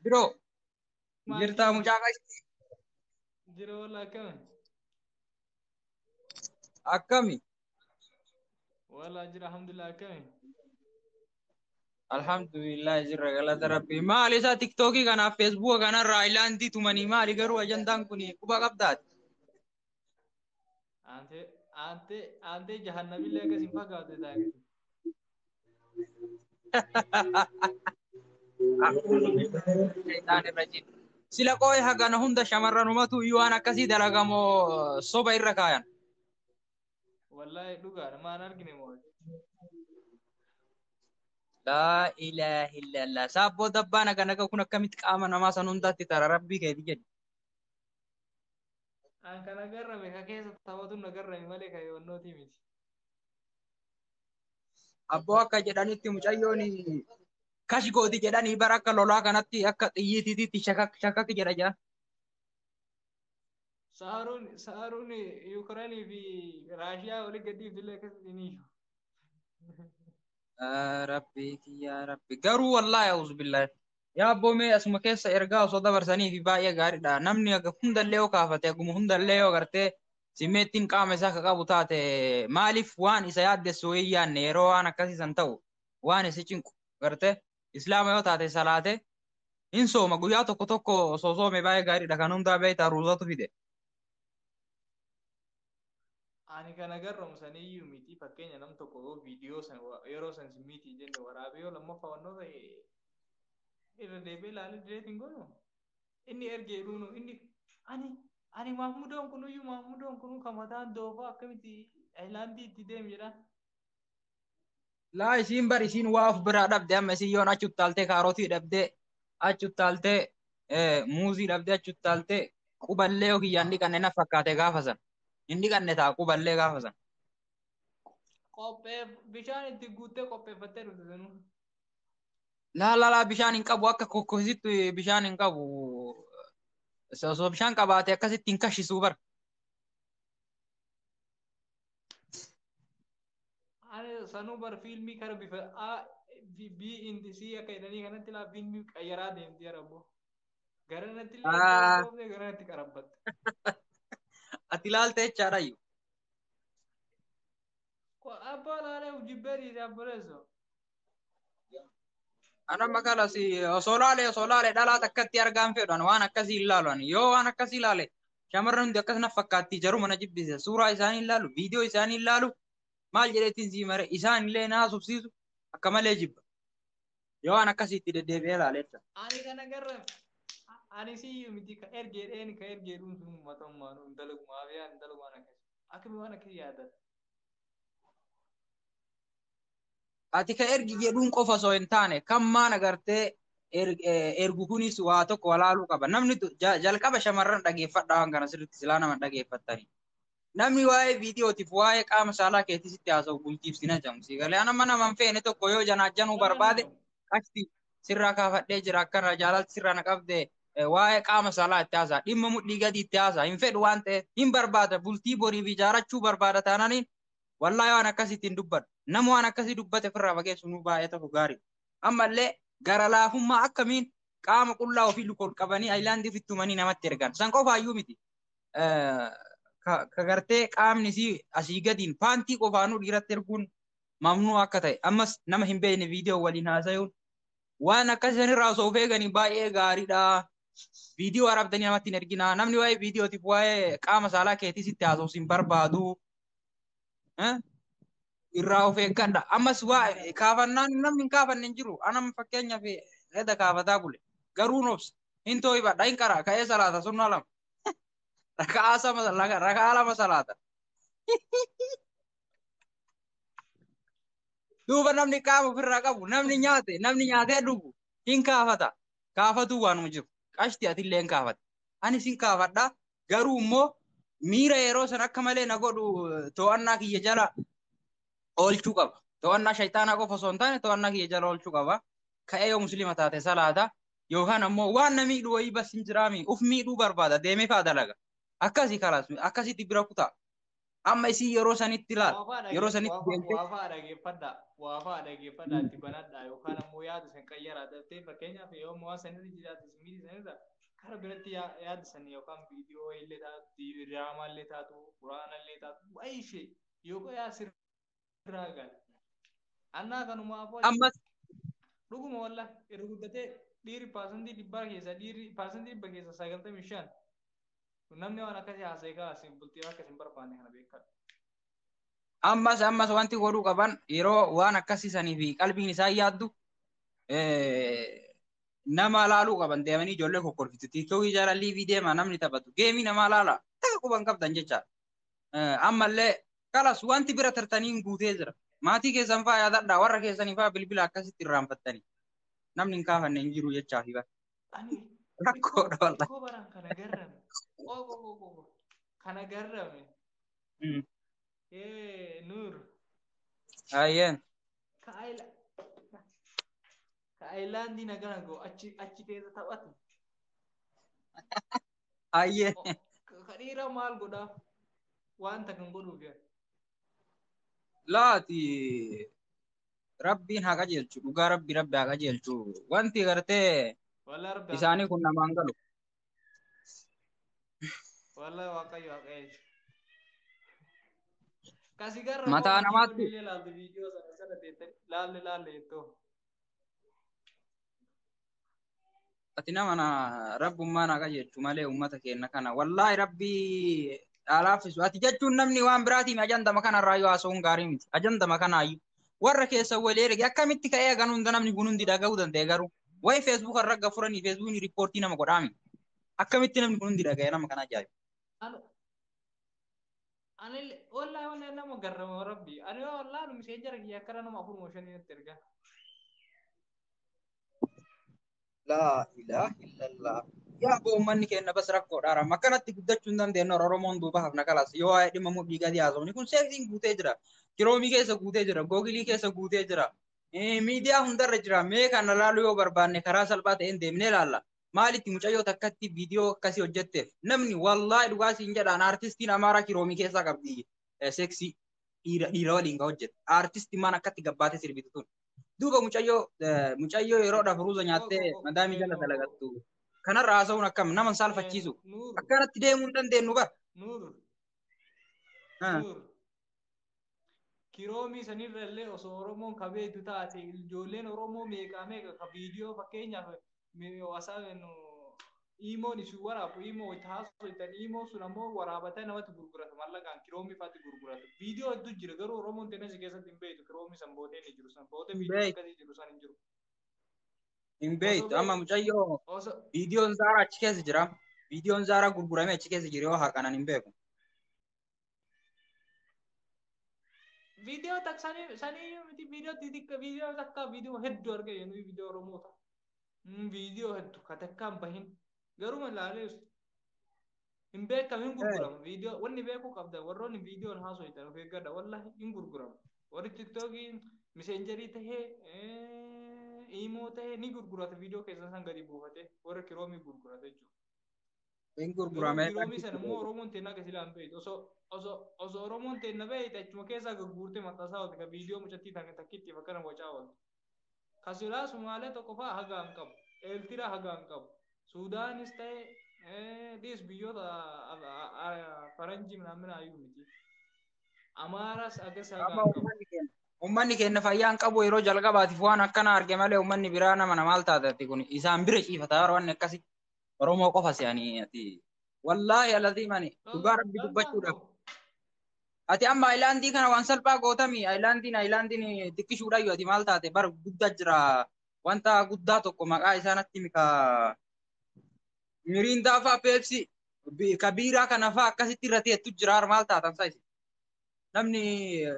Biro. Jirtaa mucaa qashti. Jira walla akkami? Akkami? Walla jira alhamdulillah akkami? Alhamdulillah jirra galata rabbii. Maali isaa tiktookii kanaaf feesbuuka kanarraa ilaantii tumanii maali garuu ajandaan kun quba qabdaati. Aantee aantee aantee jahannamillee akkas hin fakkaatu isaa gadi. Shayxaan irra jira. Sila qooyi hagana hunda shamarranumatu iyyuu waan akkasii dalagamoo soba irra kaayan. Wallaahi dhugaadha maan argine moo. Laa ilaaha illallah. Saabboo dabbaa naga naga kun akkamitti qaama namaa san hundaatti tara rabbii keeti jedhi. An kan agarrame ka keessa taphatu na agarrame malee ka yoonnooti miti. Abboo akka jedhanitti mucayyoon kash gooti jedhanii bara akka lolaa kanatti akka xiyyiitiitti shakak shakak jedha jira. Saaruun saaruun Yuukireenii fi Raashiyaa olii gadii filee keessatti ni jiru. Rabbi kiyyaa rabbi garuu wallaahi auzu billaahi Yaa abboo mee asuma keessa ergaa osoo dabarsaniifi baay'ee gaariidha. Namni aga hundallee yoo kaafate aguma hundallee yoo gartee simeettiin qaama isaa akka qabu taate maaliif waan isa yaaddessu wayii yaadne yeroo waan akkasii san ta'u waan isa cinqu gartee islaama yoo taate salaate hin sooma guyyaa tokko tokko osoo soome baay'ee gaariidha kan hundaa beektaa ruuzatu fide. Ani kan agarramu saniyyuu miti fakkeenya nam tokko yoo viidiyoo san yeroo san sin miti jenne waraabee yoo lammaffaa wannoo ta'e irra deebi'ee ilaalee direet hin godhu. Inni ergee dhuunu inni ani ani Mahmudoon kunuyyuu Mahmudoon kunuu kan mataan doofaa akkamitti Ayilaandii itti deemu jedhaan. laa isiin bar isiin waa of biraa dhabde amma isiin yoon achi uttaaltee kaarotii dhabdee achi uttaaltee muuzii dhabdee achi uttaaltee quballee yoo kiyyaan dhiqanne na fakkaate gaafa san hin dhiqanne ta'a quballee gaafa san. Qopheef bishaan itti guuttee qopheeffattee dhufte sanuu. Laa laa laa bishaan hin qabu akka kokkositti bishaan hin qabu osoo bishaan qabaate akkasitti hin kashisuu bara. Ani sanuu bar fiilmii kara bifa A B in C akka jedhanii kanatti laa fiilmii qayyaraa deemti yarabbo. Gara natti illee Ah. hin dhoofne gara natti qarabbatte. Ati ilaalta jechaadha iyyuu. Ko- Abbaa laalee jibbee dhiise abboleessoo. Ana maqaan asi osoo laale osoo laale dhalaa takkatti argaan fedhan waan akkasii hin laalu ani yoo waan akkasii laale shamarran hundi akkas na fakkaatti jaruma na jibbise suuraa isaanii hin laalu viidiyoo isaanii hin laalu maal jedheetiin sii mare isaan illee na haasofsiisu akka malee jibba yoo waan akkasiitti deddeebi'ee laaleessa. Ani kana garra ani siyyuu miti ka ergee dheeni ka ergee dhuunfuu matammaa nu dalagumaa fi ani dalagumaan akkasii akkami waan akkasii yaadata. ati ka ergi jedhuun qofa osoo hin taane kan maan agartee er- eh, ergu kunis waa tokko walaaluu qaba namni tu- ja- jalqaba shamarran dhageeffadhaa waan kana sirriitti silaa nama hin dhageeffattani namni waa'ee viidiyootiif waa'ee qaama saalaa keetii sitti haasa'u bultiif sin hajamu sii galee anamma nama hin feene tokko yoo janaajjanuu barbaade qashti sirraa kaafadhee jira akkana jaalalti sirraa na qabde eh, waa'ee qaama saalaa itti haasa'a dhimma mudhii gadii itti haasa'a hin fedhu waan ta'eef hin barbaada bultii boriif ijaarachuu barbaada taananiin Wallaahi waan akkasii ittiin dubbadhu. Nama waan akkasii dubbate ofirraa fageessu nuu baay'ee tokko gaarii. Ammallee gara laafummaa akkamiin qaama qullaa ofii lukoon qabanii ayilaandii ofitti tumanii namatti ergan. San qofaayyuu miti. Ka gartee qaamni isii asii gadiin paantii qofaanuu dhiiratti erguun mamnuu akka ta'e. Ammas nama hin beekne viidiyoo waliin haasayuun waan akkasii sanirraa osoo of eeganii baay'ee gaariidha. Viidiyoo waraabdanii namatti hin erginaa. Namni waa'ee viidiyootiif waa'ee qaama saalaa keetii sitti haasofsiin barbaadu. Eh? irraa of eeggadha. Ammas waa kaafannaan namni hin kaafanne hin jiru. Anam fakkeenyaaf edda kaafataa bule. Garuu nobsa. Hin too'ibadha hin qaraa ka'ee salaata sunnaa lama. Raka'aa sama raka'aa lama salaata. Duuba namni qaama ofirraa qabu namni nyaate namni nyaatee dhugu hin kaafata. Kaafatuu waanuma jiru. Qashti atillee hin kaafata. Anis hin kaafadha Garuu immoo miira yeroo san akka malee na godhu to'annaa kiyya jala oolchuu qaba. To'annaa shayxaanaa qofa osoo hin taane to'annaa kiyya jala oolchuu qaba. Ka'ee yoo musliima taate salaata yookaan ammoo waan na miidhu wayii bas hin jiraami. Uf miidhuu barbaada deemee fa'a dalaga. Akkasi kalaas akkasitti bira kutaa. Amma isin yeroo sanitti laal. Waafaa Yeroo dhagee- sanitti waafaa- deemtee waafaa dhageeffadhaa. Waafaa dhageeffadhaa itti banadhaa yookaan ammoo yaada san qayyaraa tattee fakkeenyaaf yoo ammoo waan sanirra jiraate isin miidhi sanirra kara biratti yaa- yaada san yookaan viidiyoo illee taatu diraamaa illee taatu quraana illee taatu waa ishee yookaan yaa sirba irraa gaala. Annaa kanumaa afoo Ammas dhuguma walla irra guddatee dhiirri paasantii dhibbaa keessa dhiirri paasantii dhibba keessa sagaltamii shan namni waan akkasii haasa'e kaa isin bultii akka isin barbaanne kana beekaa. ammas ammas wanti godhuu qaban yeroo waan akkasii sanii fi qalbiin isaan yaaddu eh, nama laaluu qaban deemanii ijoollee kokkolfitu tiiktookii jaalallii fi deema namni taphatu geemii namaa laala takka quban qabdan jecha ammallee kalas wanti bira tartaniin guutee jira. Maatii keessan fa'aa yaadadhaa warra keessanii fa'aa bilbila akkasitti irraanfattanii namni hin kaafanne hin jiru jechaa fi bara. Ani Rakkoodha xiqqoo wallah. xiqqoo baraan kana garrame. Qoo qoo qoo qoo qoo. Kana garrame. Mm. Ee Nuur. Ayyeen. Ka Ayla. Ka Ayilaandii nagaa goo achi achi keessa taphatu. Ayyee. Ka dhiiraa maal godhaa? Wanta kan godhuuf yaa. Laati rabbiin haa qajeelchu dhugaa rabbi rabbi haa qajeelchu wanti gartee Walaa rabbi isaanii kun namaan galu. Walaa waaqayyo haa qajeelchu. Kasi garra Mataa koo namaatti- illee laaltu viidiyoo sana sana deettanii laalle laalle jettoo. ati nama na rabbummaa na qajeelchu malee ummata keenya kana wallaahi rabbii dhaalaafisu ati jechuun namni waan biraatiin ajandama kanarraa yoo haasa'uun gaarii miti ajandama kanaayyuu warra keessa walii erge akkamitti ka'ee hagan hunda namni kun hundi dhaga'uu danda'e garuu wayi feesbuuk irra akka furanii feesbuukni riippoortii nama godhaami akkamitti namni kun hundi dhaga'e nama kana ajaa'iba. Ani wallahi wallahi nama garrama rabbi. Ani wallahi nu misee jara kiyya akkana nama afur mooshan natti erga. Laa ilaa illallah. Yaa boo uummanni keenya bas rakkoodha haram. Akkanatti guddachuu hin dandeenye Oromoon duuba hafna kalas. Yoo waa'ee dhimma mudhii gadii haasofni kun seeksiin guutee jira. Kiroomii keessa guutee jira. Googilii keessa guutee jira. Miidiyaa hundarra jira. Mee kana laaluu yoo barbaanne karaa salphaa ta'een deemnee ilaalla. maalitti mucayyoo takkatti viidiyoo akkasii hojjetteef namni wallaahi dhugaa siin jedhaan aartistiin amaaraa kiroomii keessaa qabdi eh, seeksii dhiira dhiira waliin ka hojjette aartisti maan akkatti gabbaatee sirbitu tun duuba mucayyoo eh, mucayyoo yeroo dhafuruuza nyaattee madaamii jala dalagattu kanarra haasa'uun akkam nama hin saalfachiisu Nuur, akkanatti deemuu hin dandeenyu bar Nuur, Ah. Nuur, Kiroomii sanirra illee osoo Oromoon ka beektu taate ijoolleen Oromoo meeqaa meeqa ka viidiyoo fakkeenyaaf iimoon isin waraabu iimoo wajji haasoftan iimoon sun ammoo waraabatee namatti gurgurata mallaqaan kiroomii faatti gurgurata. Viidiyoo hedduu jira garuu Oromoon tenesi keessatti hin beektu kiroomii san bootee ni jiru san bootee viidiyoo akkasii jiru san hin jiru. Hin beektu amma mucayyoo viidiyoon zaaraa achi keessa jira. Viidiyoon zaaraa gurguramee achi keessa jiru yoo harkaan hin beeku. Viidiyoo takka sanii sanii miti viidiyoo xixiqqa viidiyoo takka viidiyoo hedduu argee jennu viidiyoo Oromoo ta'a. Viidiyoo hedduu ka takkaan bahin garuu ilaalee hin beekamu hin gurguramu viidiyoo wanni beekuu qabda warroonni viidiyoon haasoitan of eeggadha wallahi hin gurguramu warri tiktookii miseenjarii tahee iimoo tahee ni gurgurata viidiyoo keessan san gadi buufate warri kiroomii gurgurata jechuudha. Hin Yeroo gurguramee biroomii sana immoo Oromoon teenna akka silaa hin beektu. Osoo osoo osoo Oromoon teenna beekte achuma keessaa gagguurtee maxxansaa oolte kan viidiyoo mucattii tan- takkittiif akkana wacaa oolte. Ka silaa Sumaalee tokko fa'aa hagaa hin qabu. Eeltiraa hagaa hin qabu. Suudaanis ta'e eh, dhiis biyyoota a- a- a- faranjii minaaminaa iyyuu miti. Amaaras akkas hagaa Amma hin qabu. uummanni keenya uummanni keenya fayyaa hin qabu yeroo jalqabaatiif waan akkana arge malee uummanni biraa nama na maal taate ati kun isaan bira ciifata bara wanni akkasii. Oromoo qofa si ani ati. Wallaahi alazii mani dhugaa rabbi dubbachuudhaaf. Ati amma ayilaandii kana waan salphaa gootami ayilaandiin ayilaandiin xiqqishuudhaayyu ati maal taate bar guddaa jira wanta guddaa tokko maqaa isaa natti mika miriindaa faa peepsi ka biiraa kana faa akkasitti irra teettu jira har maal taatan saa isin namni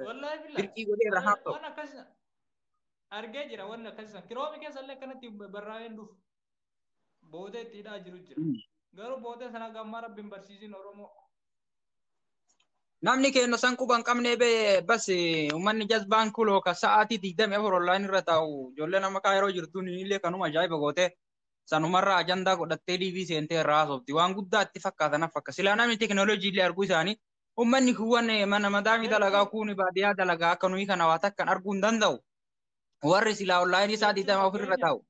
Wallaahi billah. dirqii godhee irra haaf ta'u. Waan akkas argee jira waan akkas kiroomi keessa illee akkanatti barraa'een dhufu. Booda itti hidhaa jiru jira. Mm. Garuu booda sana gammaa rabbi hin barsiisin Oromoo. Namni keenya san quba hin qabne bee bas uummanni jazbaan kuloo ka sa'aatii digdamii afur online irra taa'u ijoollee nama kaa yeroo jirtuun illee kanuma ajaa'iba goote sanumarraa ajandaa godhattee DV seentee irraa haasofti waan guddaa itti fakkaata naf fakka silaa namni tekinooloojii illee arguu isaanii uummanni kuwwan eh, mana madaamii dalagaa kuuni baadiyyaa dalagaa akka nuyi kana waa takkan arguu hin danda'u warri silaa online isaa digdamii afur irra taa'u.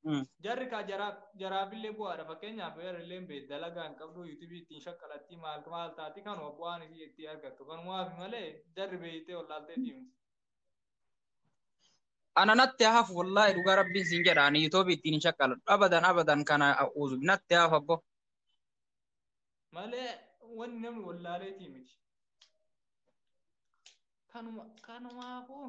Mm. Jarri kaa jaraaf jaraafillee bu'aadha fakkeenyaaf eerilleen beed dalagaa hin qabdu yuutubii ittiin shaqqalattii maal maal taati kanuma bu'aan isii ittiin argattu kanumaaf malee jarri beeytee wallaaltee diimti. Ana natti hafu wallaahi dhugaa rabbiin siin jedha ani yuutubii ittiin hin shaqqaladhu abadan abadan kana uzu natti hafu abbo. Malee wanni namni wallaalee diimti. Kanuma kanumaafuu.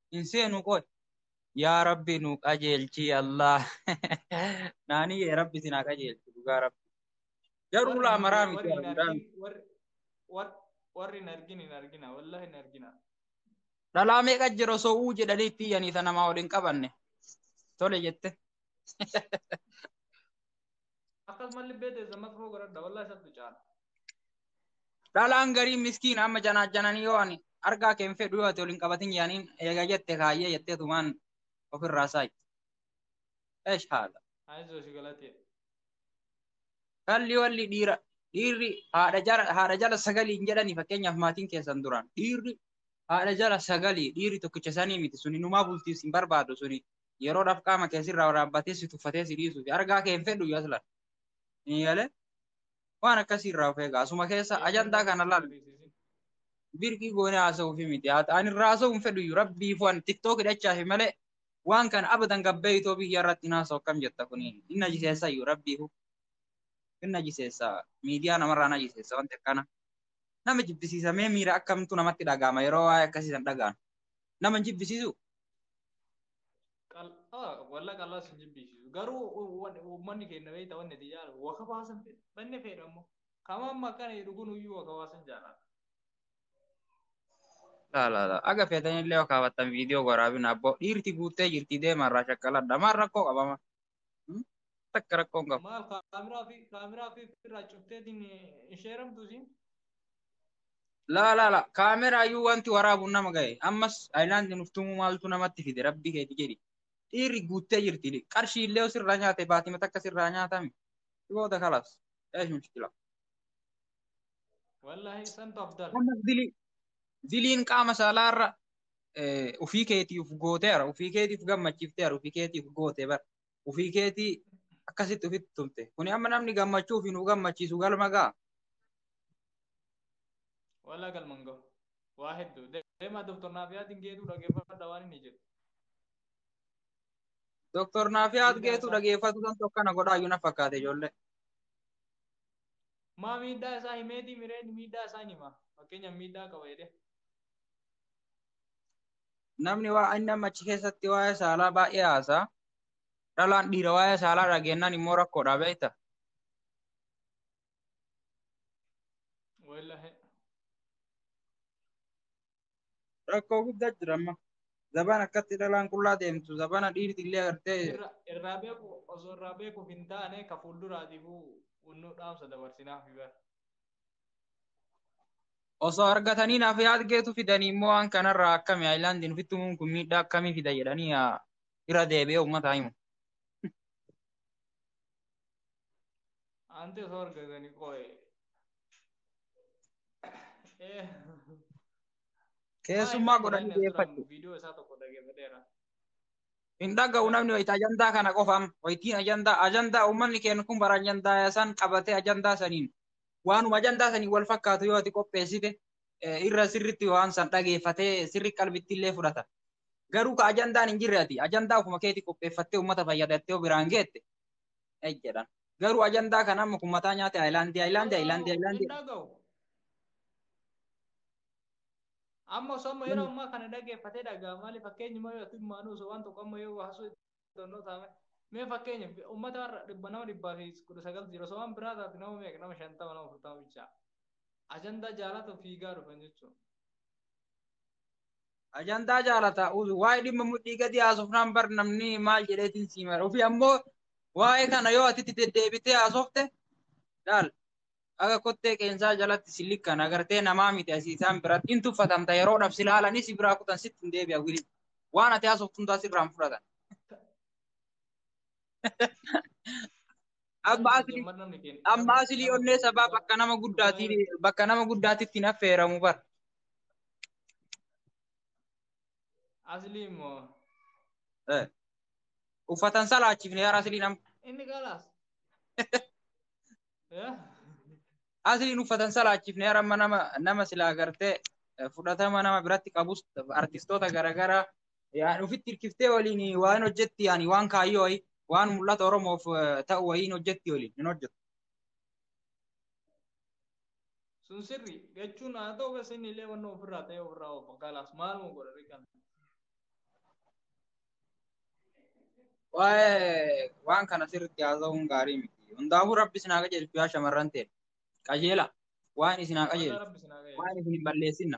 hin seenu qoy yaa rabbi nu qajeelchi allah naani yee rabbi isin haa qajeelchu dhugaa rabbi garuu Warri ulaa hin- maraa miti warri hin hundaa argin- warri- war- warri hin argin hin argina wallahi hin argina dhalaa meeqa jira osoo uu jedhanii itti iyyanii ta namaa ol hin qabanne tole jette akkasumas libbee teessan makfoo godhadha wallahi sattu caala dhalaan garii miskiin amma janaajjananii yoo ani argaa kee hin fedhu yoo ati waliin qabatin yaaniin eega jette kaayyee jettee tumaan ofirraa saayi. Eesh haala. ayizoo si galatee Kalli walli dhiira dhiirri haadha jala haadha jala sagalii hin jedhani fakkeenyaaf maatiin keessan duraan dhiirri haadha jala sagalii dhiirri tokkicha sanii miti suni numaa bultiis hin barbaadu suni yeroodhaaf qaama kee sirraa waraabbatee si tuffatee si dhiisuu fi argaa kee hin fedhu iyyuu aslan. Hin yaale waan akkasii irraa of eegaa. Asuma keessa ajandaa kana laal. Birqii goonee haasa'uu fi miti. Haa ta'an irraa haasa'uu hin fedhu iyyuu rabbii foon tiktook hidhachaa fi malee waan kana abadan gabbee itoo biyya irratti hin haasa'u akkam jetta kuni hin najiseessa iyyuu rabbii fu. Hin najiseessa miidiyaa namarraa najiseessa wanti akkana. Nama jibbisiisa mee miira akkamtu namatti dhaga'ama yeroo waa'ee akkasii san dhaga'an. Nama hin jibbisiisu walla qal'aa sin jibbiisisu garuu uummanni keenya beekta wanni itti jaalatu waka baasan fedha banne fedha immoo kama amma akkana jedhu kun iyyuu waka baasan jaalata. Laalaala aga feetanillee yoo kaawwattan viidiyoo waraabina abboo dhiirti guuttee jirti deemarraa shakkaladha maal rakkoo qabama takka rakkoon qabu. Maal kaameraa fi kaameraa fi irraa cufteetiin hin sheeramtu siin? Laa laa laa kaameraa iyyuu wanti waraabuun nama gahe ammas ayilaandi nuuf tumuu maaltu namatti fide rabbii keeti jedhi dhiirri guuttee jirti qarshii illee sirraa nyaate baatima takka sirraa nyaatame booda kalaas eesh mushkila. Wallaahi santu afdala. Ammas dilii diliin qaama saalaa irra ufii keetiif gootee ara ufii keetiif gammachiiftee ara ufii keetiif gootee bara ufii keetii akkasitti ufitti tumte kuni amma namni gammachuu fi nu gammachiisu galma gaa Walaa galman gahu. Waa hedduu. Deemaa Dooktor Naafiyaatiin geetuu dhaggeeffadha waan inni jedhu. Dooktor Naafiyaat Miidhaa geetuu isaa- dhageeffatu kan tokko kana godhaa iyyuu na fakkaate ijoollee. Maa miidhaa isaa himeetii mireen miidhaa isaa hin hima. Fakkeenyaaf miidhaa qaba jedhee. namni waa inni amma achi keessatti waa'ee saalaa baay'ee haasaa dhalaan dhiira waa'ee saalaa dhageenyaan immoo rakkoodha beekta. Wallahi. Rakkoo guddaa jira amma. Zaban akkatti dhalaan qullaa deemtu zabana dhiirti illee agartee Irra- Irraa beeku osoo irraa beekuuf hin taane ka fuulduraatiifuu nu dhaamsa dabarsinaaf bara. osoo argatanii naaf yaadgeetu fidanii immoo waan kanarraa akkami aayilaandiin ofitti uumuun kun miidhaa akkamii fida jedhanii haa irra deebi'ee uummataa himu. Anti osoo argatanii qooye. Keessummaa godhanii deeffadhu. Viidiyoo isaa tokko dhaggeeffateera. Hin dhaga'u namni wayita ajandaa kana qofaam. Wayitiin ajandaa ajandaa uummanni keenya kun bara ajandaa san qabatee ajandaa saniin waanuma ajandaa saniin wal fakkaatu yoo ati qopheessite eh, irra sirritti waan san dhageeffatee sirri qalbitti illee fudhata. Garuu ka ajandaan hin jirre ati ajandaa ofuma keetii qopheeffattee uummata fayyadattee yoo biraan geette eh, jedhan. Garuu ajandaa kana amma kun mataa nyaate Ayilaandii Ayilaandii Ayilaandii Ayilaandii. Hin dhaga'u. Amma osoo amma yeroo ammaa kana dhaggeeffatee dhagaa maali fakkeenyi moo yoo himmaanu osoo waan tokko amma yoo haasoo itti taame mee fakkeenya uummata har'a dhibba nama dhibbaa fi kudha sagaltu jira osoo waan biraa taate nama meeqa nama shantama nama furtama bichaa ajandaa jaalatu fiigaa dhufan jechuudha. Ajandaa jaalata waa'ee dhimma mudhii gadi haasofnaan bar namni maal jedheetiin siimara ofii ammoo waa'ee kana yoo ati itti deddeebitee haasofte laal Akka kottee qeensaa jalatti si likkan agartee namaa miti asii isaan biratti hin tuffatamta yeroodhaaf si laalanii si biraa kutan sitti hin deebi'a wili. Waan ati haasoftu hundaa sirraa hin fudhatan. Amma asli amma asli onnee sabaa bakka nama guddaati bakka nama guddaatti ittiin affeeramu bar. Asli immoo Eh. Uffatan salaachifne yaa asli nam. inni galas. Asliin uffatan salaachifne haramma nama nama silaa agartee fudhatama nama biratti qabus artistoota garaagaraa yaa ofitti hirkiftee waliin waan hojjetti yaani waan kaayyoo wayii waan mul'ata Oromoof ta'u wayiin hojjetti waliin hin hojjetu. Sun sirri jechuun haa ta'u keessa inni illee wanna ofirraa ta'e ofirraa of gaalaas maaluma godhanii kana. Waa'ee waan kana sirriitti haasa'uun gaarii miti. Hundaafuu rabbi isin haa qajeelchu yaa shamarran ta'e. Qajeela waan isin haa qajeelchu. Rabbi isin haa qajeelchu. Waan isin hin balleessinna.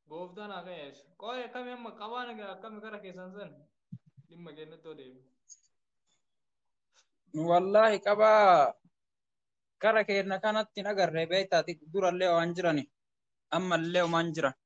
Gooftaan haa qajeelchu. Qooyi akkami amma qabaan egaa akkami gara keessan san dhimma keenyatti yoo deebi'u. Wallaahi qabaa gara keenya kanatti hin agarre beektaa durallee waan jirani ammallee waan jiran.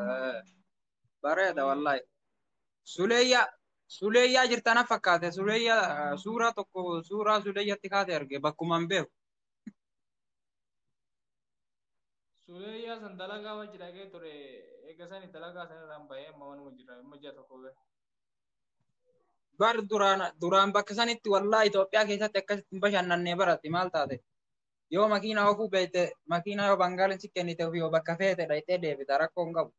Eh, Bareeda wallahi. Suleeyyaa Suleeyyaa jirta na fakkaate Suleeyyaa eh, suuraa tokko suuraa Suleeyyaatti kaate arge bakkuma hin beeku. Suleeyyaa san dalagaa wajji dhaqee ture eega sani dalagaa san irraan bahee amma manuma jira amma ji'a tokko ga'e. Bar duraan duraan bakka sanitti wallahi Itoophiyaa keessatti akkasitti hin bashannannee barate maal taate? yoo makiina ofuu beekte makiina yoo bangaaliin si kennite ofii bakka feete dhayxee deebita rakkoo hin qabu.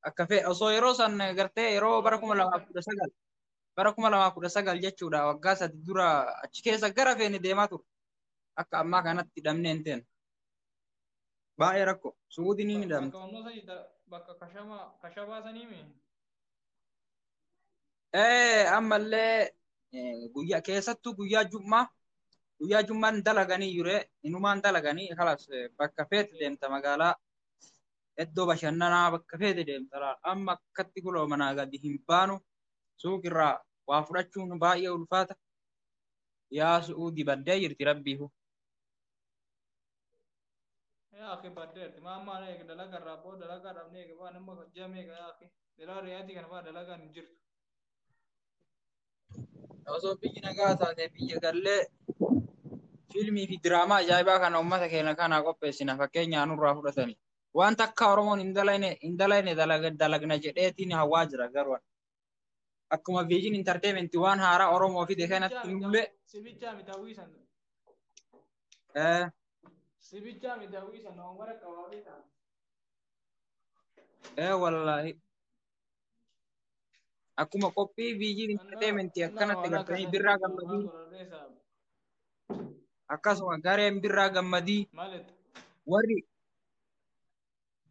Akka fee osoo yeroo san gartee yeroo bara kuma lamaa kudha sagal bara kuma lamaa kudha sagal jechuudha waggaa sadi dura achi keessa gara feene deemaa ture. Akka ammaa kanatti dhabnee hin teenu. Baay'ee rakkoo. Suudii ni midhamti. Bakka kashamaa sanii mii? Eh, ammallee eh, guyyaa keessattuu guyyaa jummaa guyyaa jummaan dalaganii jure inumaan dalaganii kalas eh, bakka feete deemta magaalaa iddoo bashannanaa bakka feete deemta laal. amma akkatti kuloo manaa gadi hin baanu suuqirraa waa fudhachuun baay'ee ulfaata yaa su'uudi baddee jirti rabbiihu. yaa akhi baddeerti maa ammaa eega dalagaa irraa boo dalagaa dhabnee eega waan amma ji'a meeqa yaa akhi dhiraa ri'aatii kana faa dalagaan hin jirtu osoo biyyi nagaa taate biyya gallee fiilmii fi diraamaa ajaa'ibaa kana uummata keenya kanaa qopheessina fakkeenyaa nurraa fudhatani. Wanta akka Oromoon hin dalayne hin dalayne dalag- dalagna jedheetiin hawwaa jira garuu. akkuma viijin intarteementii waan haaraa Oromoo fide kanatti nullee Sibichaa miti hawwii sana. eh, Sibichaa miti hawwii sana waan bara qabaafii ta'a. eh, wallaahi akkuma qophii viijin intarteementii akkanatti gartanii birraa gammadii akkasuma gareen birraa gammadii Maalitti? warri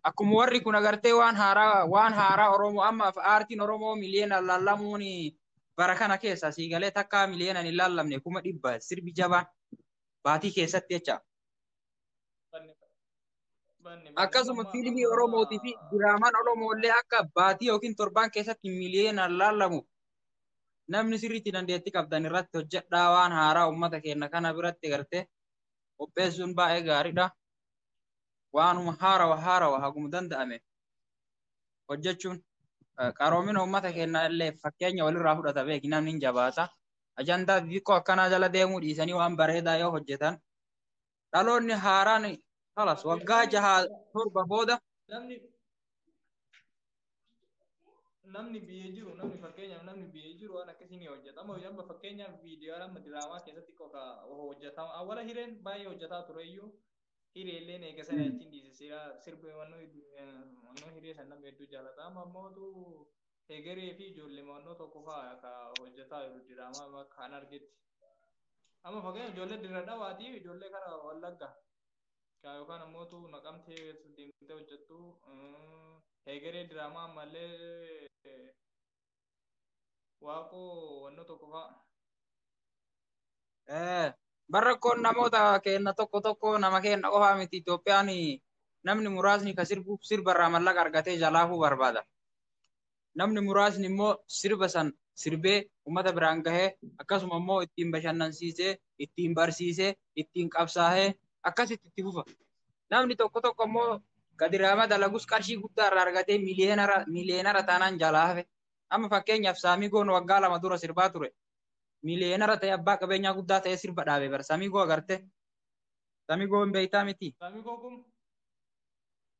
akkuma warri kun agartee waan haaraa waan haaraa Oromoo amma aartiin Oromoo miliyoona laallamuun bara kana keessa sii galee takkaa miliyoona hin laallamne kuma dhibba sirbi jabaan baatii keessatti jecha. Akkasuma fiilmii Oromootii fi diraamaan Oromoollee akka baatii yookiin torbaan keessatti miliyoona laallamu namni sirriitti dandeettii qabdan irratti hojjedhaa waan haaraa uummata keenya kana biratti agartee qopheessuun baay'ee gaariidha. waanuma haarawa haarawa haguma danda'ame hojjechuun qaroomina uummata keenyaa illee fakkeenya walirraa fudhata beeki namni hin jabaata. Ajandaa xixiqqoo akkanaa jala deemuu dhiisanii waan bareedaa yoo hojjetan dhaloonni haaraan kalas waggaa jahaa torba booda namni biyya jiru namni fakkeenyaaf namni biyya jiru waan akkasii ni hojjetama amma fakkeenyaaf viidiyoo amma diraamaa keessatti qofa hojjetama awwala hireen baay'ee hojjetaa ture iyyuu hiree illee eega sana ittiin dhiisisiira sirbi wannoo hiree san nama hedduu jaalata amma ammootu hegeree fi ijoollee wannoo tokko fa'aa ka hojjetaa jiru diraamaa amma kan argetti amma fakkeenyaaf ijoollee dirra dhawaatiif ijoollee kara wallagga Kaa yookaan ammoo tu naqamtee keessa deemtee hojjettu. Heegeree diraamaa ammallee waaqoo wanno tokko fa'a. Eh, Bar rakkoon namoota keenna tokko tokko nama keenna qofaa miti Itoophiyaan namni muraasni ka sirbuuf sirbarraa mallaqa argatee jalaafuu barbaada. namni muraasni immoo sirba san sirbee ummata biraan gahee akkasuma immoo ittiin bashannansiisee ittiin barsiisee ittiin qabsaahee akkasitti itti fufa. Namni tokko tokko immoo gadiraama dalagus qarshii guddaa irraa argatee miliyeenara miliyeenara taanaan jalaa hafe. Amma fakkeenyaaf Saamigoon waggaa lama dura sirbaa ture. Miliyeenara ta'e abbaa qabeenyaa guddaa ta'e sirba dhaabe bara. Saamigoo agarte. Saamigoo hin beektaa miti. Saamigoo kun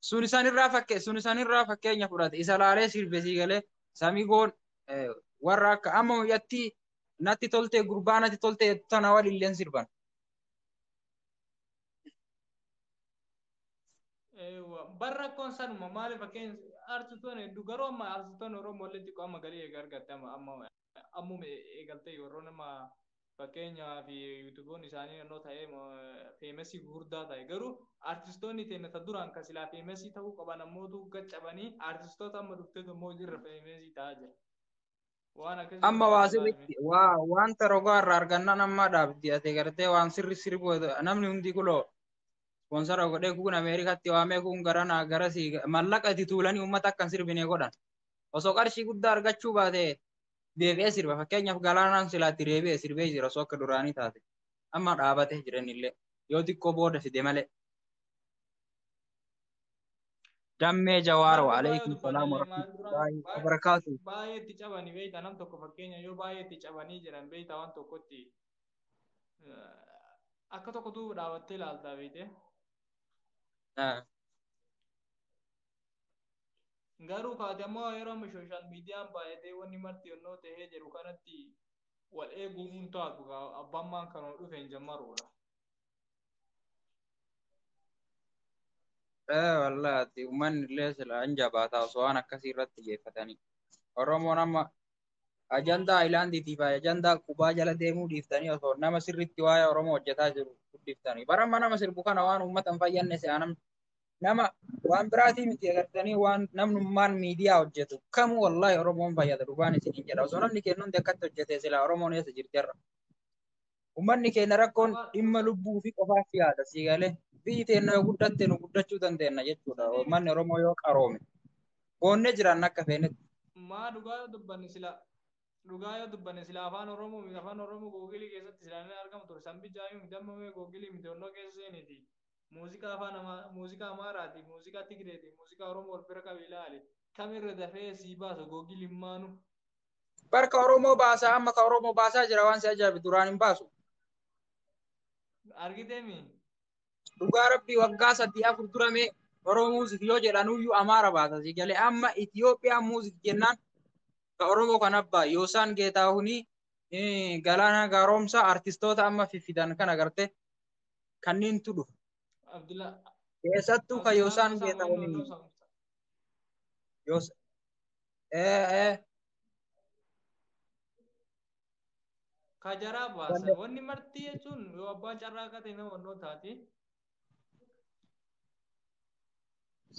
sun isan irraa fakke sun isan irraa fakkeenya fudhate isa laalee sirbe sii galee samigoon eh, warra akka amma mucattii natti toltee gurbaa natti toltee jettu tana walilleen sirban Eewwa. Bar rakkoon sanuma maali fakkeenya artistoonni hedduu garuu amma artistoonni Oromoo illee xiqqoo amma galii eega argatte amma amma ammuma eegaltee warroon amma fakkeenyaa fi yuutuboon isaanii nannoo ta'ee feemesii gurguddaa ta'e garuu artistoonni teenya ta duraan kan silaa feemesii ta'uu qaban ammootu gaccabanii artistoota amma dhuftee immoo irra feemesii ta'aa jira. Waan akkasii Amma waa ilaalaa sirriitti jirmi. waa wanta rogaa irraa argannaan ammaa dhaabdi ati gartee waan sirri sirbu namni hundi kuloo ispoonsara godhee kun Ameerikaatti waamee kun garanaa garasii mallaqa itti tuulanii uummata akkan sirbinee godhan. osoo qarshii guddaa argachuu baate deebi'ee sirba fakkeenyaaf galaanaan silaatti deebi'ee sirbee jira osoo akka duraanii taate amma dhaabatee jira innillee yoo xiqqoo booda fide malee. Dammee Jawaar wa alaikum salaam wa rahmatullahi wa barakaatu. Baay'ee itti cabani beekta nam tokko fakkeenya yoo baay'ee itti cabanii jiran beekta waan tokkotti akka tokko duuba dhaabattee ilaaltaa beekte. Garuu kaati ammoo yeroo amma sooshaal miidiyaan baay'atee wanni marti yonnoo ta'ee jiru kanatti wal eeguu hin taatu abbaan maan kanuma dhufe hin jammaruudha. Ee wallaati uummanni illee silaa hin jabaataa osoo waan akkasii irratti xiyyeeffatanii. Oromoon amma ajandaa Ayilaandiitiif ajandaa qubaa jala deemuu dhiiftanii osoo nama sirriitti waa'ee Oromoo hojjetaa jiru guddiftanii. Bara amma nama sirbu kana waan uummata hin fayyadne si'aa namni. nama waan biraatii miti agartanii waan namnummaan miidiyaa hojjetu kamu wallaahi Oromoon fayyada dhugaan isiniin jedha osoo namni keenya hundi akkatti hojjete silaa Oromoon eessa jirterra. Uummanni keenya rakkoon dhimma lubbuu fi qofaaf yaada sii galee biyyi teenya yoo guddatte nu guddachuu dandeenya jechuudha uummanni Oromoo yoo qaroome. Boonnee jiraanna akka feenetti. Maa dhugaa yoo dubbanne silaa dhugaa yoo dubbanne silaa afaan Oromoo miti afaan Oromoo googilii keessatti silaa ni argamu ture sanbi jaayuu miti amma mee googilii miti onnoo keessa seeniiti. Muuziqaa afaan Amaa- muuziqaa Amaaraati, muuziqaa Tigreeti, muuziqaa Oromoo wal bira qabi ilaali. Kam irra dafee sii baasa Google immaanu. Bar ka Oromoo baasaa amma ka Oromoo baasaa jira waan si ajaa'ibu duraan hin baasu. Argiteemi? Dhugaa rabbii waggaa sadii afur dura mee Oromoo muuzik yoo jedhanuyyuu Amaara baasa si galee amma Itiyoophiyaan muuzik jennaan ka Oromoo kan abbaa Yoosaan Geetaahunii eh, Galaanaa Gaaromsaa artistoota amma fiffidan kan agarte kanneentu dhufa. Abdulaa. Keessattuu kan Abdulaa Yoosaan Gosaa Geetaahuun Mo'annoo hin Loosaa Murtaa. Yoos. Eh, eh, Ka jaraa baasan. Wanda- Wanni marti jechuun yoo abbaan carraa akka ta'e nama onnoo taati.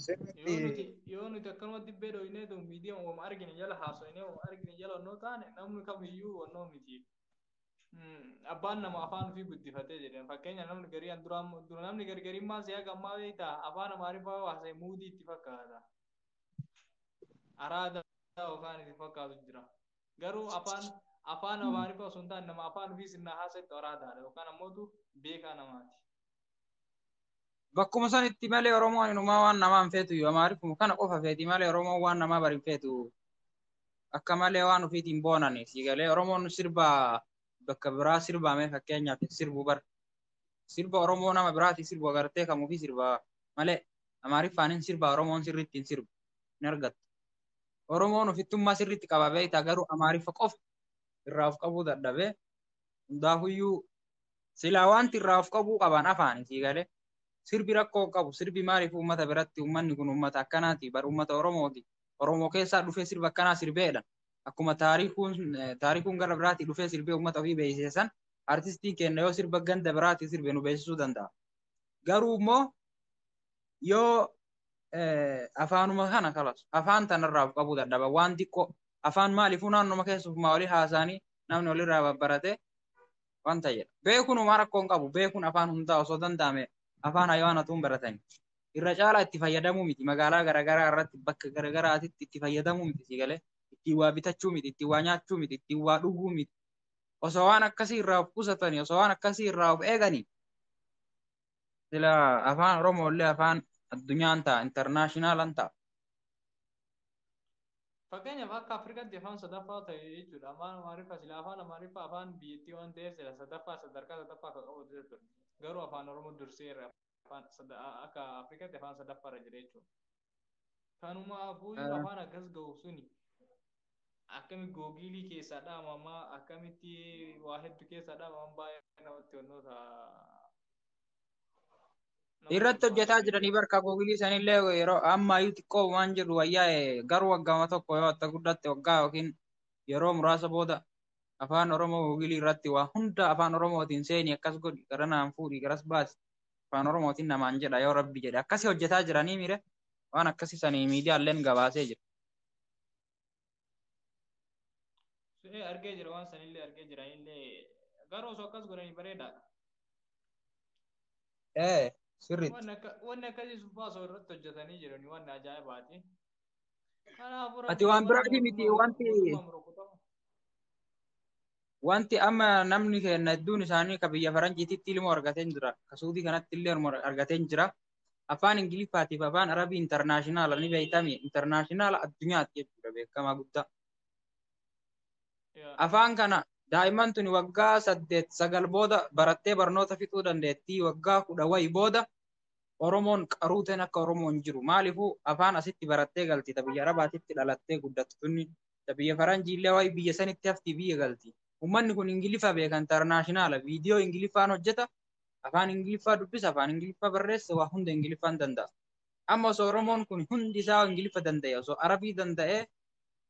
Yoo nuti sirriitti yoo nuti akkanuma dibbee dhooyinee tu miidiyaa uumama argine jala haasofnee uumama argine jala onnoo taane namni kamiyyuu onnoo miti. abbaan nama afaan ofii guddifatee jedhan fakkeenya namni garii an duraan dura namni gargarimmaan si'a gammaa beekta afaan amaariffaa haasa'e muudii itti fakkaata araada yookaan itti fakkaatu jira garuu afaan afaan amaariffaa osoo hin taane nama afaan ofii sinnaa haasa'etti araadaadha yookaan ammootu beekaa namaati. Bakkuma sanitti malee Oromoon inumaa waan namaa hin feetu yoo amaariffuma kana qofa feeti malee Oromoon waan namaa bari hin feetu. Akka malee waan ofiitiin boonan sii galee Oromoon sirba bakka biraa sirbaamee fakkeenyaaf hin sirbu bar. Sirba Oromoo nama biraatiin sirbu agartee kan ofii sirba malee amaariffaan hin sirba Oromoon sirriitti hin sirbu hin argattu. Oromoon ofittummaa sirriitti qaba beektaa garuu amaariffa qofa irraa of qabuu dadhabee hundaafuyyuu Silaa wanti irraa of qabuu qaban afaani sii galee. Sirbi rakkoo hin qabu. Sirbi maaliif uummata biratti uummanni kun uummata akkanaati bar uummata Oromooti. Oromoo keessaa dhufee sirba akkanaa sirbeedha. Akkuma taarikuun eh, taarikuun gara biraatii dhufee sirbee uummata ofii beeksise san artistiin keenya yoo sirba ganda biraatii sirbe nu beeksisuu danda'a. Garuu immoo yoo eh, afaanuma kana kalas afaan tanarraa of qabuu dadhaba waan xiqqoo afaan maaliifuu naannoma keessumaa olii haasaanii namni olirraa babbarate wanta jedha. Beekuun homaa rakkoo hin qabu. Beekuun afaan hundaa osoo danda'ame afaan hayawaanatuun baratani. Irra caalaa itti fayyadamuu miti. Magaalaa garaagaraa irratti bakka garaagaraatitti itti fayyadamuu miti si galee. Ittiin waa bitachuu miti, ittiin waa nyaachuu miti, ittiin waa dhuguu miti. Osoo waan akkasii irraa of qusatanii, osoo waan akkasii irraa of eeganii Sila afaan Oromoo illee afaan addunyaan ta'a, intarnaashinaalan ta'a. Fakkeenyaaf akka Afrikaatti afaan sadaffaa ta'e jechuudha. Afaan Amaariffaa sila afaan Amaariffaa afaan biyyattii waan ta'eef sila sadaffaa sadarkaa sadaffaa akka qabu ture ture. Garuu afaan Oromoo dursee irra afaan sada- akka Afrikaatti afaan sadaffaarra jira jechuudha. Kanumaafuuyyuu Ah, afaan akkas ga'u suni akkami googiilii keessaa dhaamamaa akkamitti waa hedduu keessaa dhaamaman baay'ee namatti wantoota nama irratti kolfaa hojjetaa ta'e. jiranii barka googilii sanillee yeroo amma iyyuu xiqqoo waan jedhu wayyaa eh, garuu waggaama tokko yoo atta guddatte waggaa yookiin yeroo muraasa booda afaan oromoo googilii irratti waa hunda afaan oromootiin seeni akkas godhi garanaan fuudhi garas baasi afaan oromootiin namaan jedha yoo rabbi jedhe akkasi hojjetaa jiranii mire waan akkasi sanii miidiyaalleen gabaasee jira. Ee argee jira waan sanillee argee jira illee garuu osoo akkas godhanii bareedaadha. Ee sirriitti. Wanni akka wanni akkasii subbaa osoo irratti hojjetanii jiranii wanni ajaa'ibaati. Kanaafuu Ati waan biraatii miti wanti wanti amma namni keenya hedduun isaanii ka biyya faranjiititti ilmoo argateen jira ka suudii kanatti illee ilmoo argateen jira afaan ingiliffaatiif afaan arabii intarnaashinaala ni beektami intarnaashinaala addunyaatti jechuudha beekamaa guddaa Yaa. afaan kana daa'imman tuni waggaa saddeet sagal booda barattee barnoota fixuu dandeettii waggaa kudha wayi booda oromoon qaruuteen akka oromoon jiru maaliifuu afaan asitti barattee galti ta biyya arabaatitti dhalattee guddattu tunni ta biyya faranjiillee waa'ee biyya sanitti hafti biyya galti. Uummanni kun Ingiliffa beeka intarnaashinaala viidiyoo Ingiliffaan hojjeta afaan Ingiliffaa dubbisa afaan Ingiliffaa barreessa waa hunda Ingiliffaan danda'a. Amma osoo Oromoon kun hundi isaa Ingiliffa danda'e osoo Arabii danda'e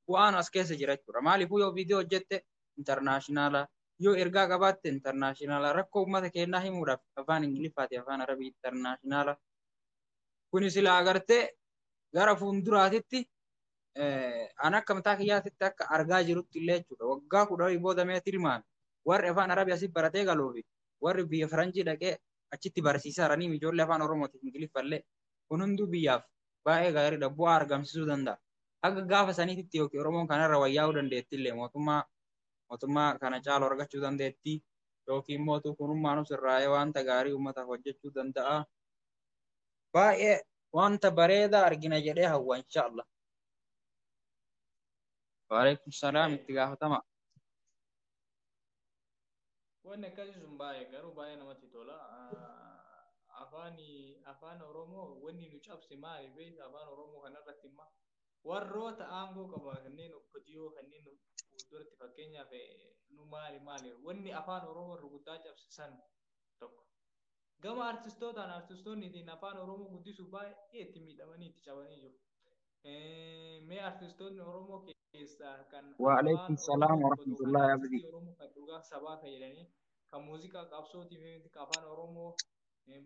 bu'aan as keessa jira jechuudha. Maaliifuu yoo viidiyoo hojjette intarnaashinaala yoo ergaa qabaatte intarnaashinaala rakkoo uummata keenyaa himuudhaaf afaan Ingiliffaati afaan Arabii intarnaashinaala. Kuni sila agartee gara fuulduraatitti an akka mataa kiyyaatitti akka argaa jirutti illee jechuudha waggaa kudha horii booda mee tilmaan warri afaan arabii asii baratee galuu fi warri biyya faranjii dhaqee achitti barsiisaa ranii ijoollee afaan oromootiif ingiliffallee kun hunduu biyyaaf baay'ee gaariidha bu'aa argamsiisuu danda'a. Akka gaafa saniititti yookiin oromoon kanarra wayyaa'uu dandeetti illee mootummaa mootummaa kana caalu argachuu dandeetti yookiin mootuu kunummaanus irraa'ee wanta gaarii uummataaf hojjechuu danda'a. baay'ee wanta bareedaa argina jedhee hawwa insha Allah. Waalaikum salaam itti gaafatama. Wanni akkasii sun baay'ee garuu baay'ee namatti tola. Afaan afaan Oromoo wanni nu cabse maali beekta afaan Oromoo kanarratti immoo warroota aangoo qaban kanneen okkotiyoo kanneen fuulduratti fakkeenyaaf nu maali maali wanni afaan Oromoo rukuttaa cabse san tokko. Gama artistootaan artistoonni ittiin afaan Oromoo guddisuuf baay'ee itti miidhamanii itti cabanii jiru. Mee artistoonni Oromoo keessaa kan Waalaikum salaam warahmatullahi abdi. Oromoo kan dhugaa sabaa kan jedhanii kan muuziqaa qabsootiif miti kan afaan Oromoo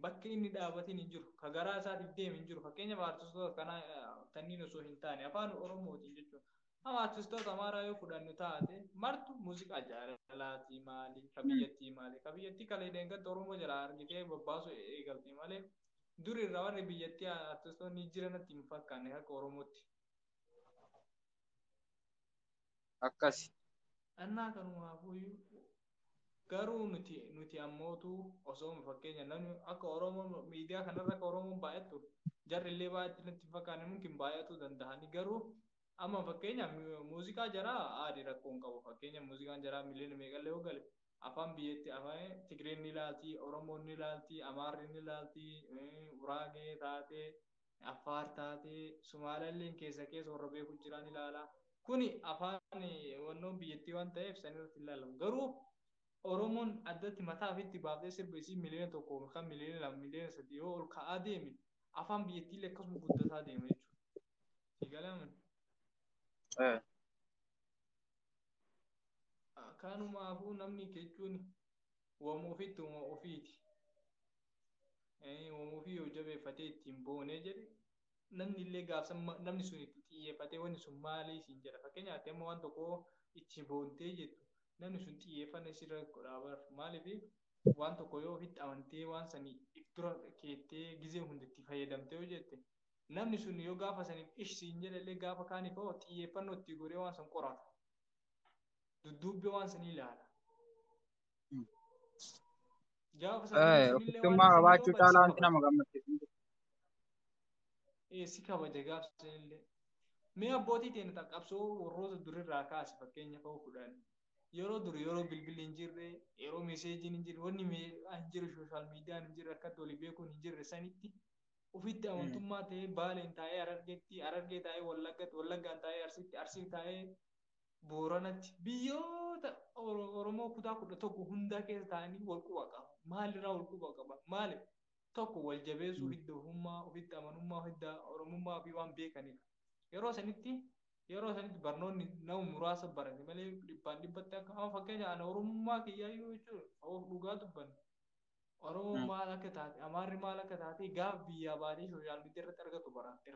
bakka inni dhaabatiin hin jiru. Ka garaa isaatiif deeme hin jiru. Fakkeenyaaf artistoota kanaa tanniin osoo hin taane afaan Oromootiin jechuudha. Amma artistoota amaaraa yoo fudhannu taate martu muuziqaa jaalalaatii maali ka biyyattii maali ka biyyattii kalee deengatta Oromoo jalaa argitee babbaasu eegalti malee duri irraa warri biyyattii artistoonni jiranatti hin fakkaanne akka Oromootti. Akkasi. Annaa kanumaafu garuu nuti nuti ammootu osoo fakkeenya namni akka Oromoo miidiyaa kanarra akka Oromoon baay'attu jarri illee baay'atti nutti hin fakkaanne mumkin baay'atuu danda'ani garuu Amma fakkeenya mu- muuziqaa jaraa aadi rakkoo hin qabu. Fakkeenya muuziqaan jaraa miliyoona meeqallee yoo gale afaan biyyatti afaan Tigreen ni laalti, Oromoon ni laalti, Amaarri ni laalti, eh, Uraagee taate, Affaar taate, Sumaalaalleen keessa keessa warra beeku jiraa ni laala. Kuni afaan eh, wannoon biyyattii waan ta'eef san irratti hin laalamu. Garuu Oromoon addatti mataa ofiitti baaftee sirba isii miliyoona tokko yookaan miliyoona lama miliyoona sadii yoo ol ka'aa deeme afaan biyyattiillee akkasuma guddataa deema jechuudha. Si galaama. Eh, Kanumaafuu namni jechuun wama ofitti wama ofiiti. Eh, Wama ofii yoo jabeeffatee ittiin boonee jedhe namni illee gaafsan ma- namni sun itti xiyyeeffatee wanni sun maalii siin jedha. Fakkeenyaaf ati amma waan tokko itti boontee jettu namni sun xiyyeeffanna isirra godhaa bar. Maaliif waan tokko yoo ofitti amantee waan sanii if dura keettee gizee hundi itti fayyadamtee yoo jette namni sun yoo gaafa saniif ish siin jedhallee gaafa kaaniif hoo xiyyeeffannoo itti godhee waan san qorata. Dudduubbee waan sanii ilaala. Gaafa san namni sunillee waan Ofittummaa inni sanii qabaachuu yoo bade si caalaa wanti kabaja. nama gammachiisu hin jiru. Ee si kabaja gaafa sanillee. Mee abbootii teenya ta'a qabsoo warroota durirraa kaase fakkeenya fa'uu fudhan. Yeroo dur yeroo bilbilli hin jirre, yeroo meeseejiin hin jirre, wanni mee- hin jirre sooshaal miidiyaan hin jirre akkatti walii beekuun hin jirre sanitti ofitti amantummaa ta'ee baaleen taa'ee harargeetti harargee taa'ee wallaggatti wallaggaan taa'ee arsiitti arsii taa'ee booranatti biyyoota Oro- oromoo kutaa kudha tokko hundaa keessa taa'anii wal quba qaba maalirraa wal quba qaba maali tokko wal jabeessuu hidda ofummaa ofitti amanummaa hidda oromummaa fi waan beekanidha yeroo sanitti yeroo sanitti barnoonni nama muraasa barate malee dhibbaan dhibbatti akka amma fakkeenya ana oromummaa kiyyaa yoo jechuudha of dhugaa dubbanne Oromoon maal akka taate, Amaarri maal akka taate gaaf biyyaa baatee sooshaal miidiyaa irratti argatu baratte.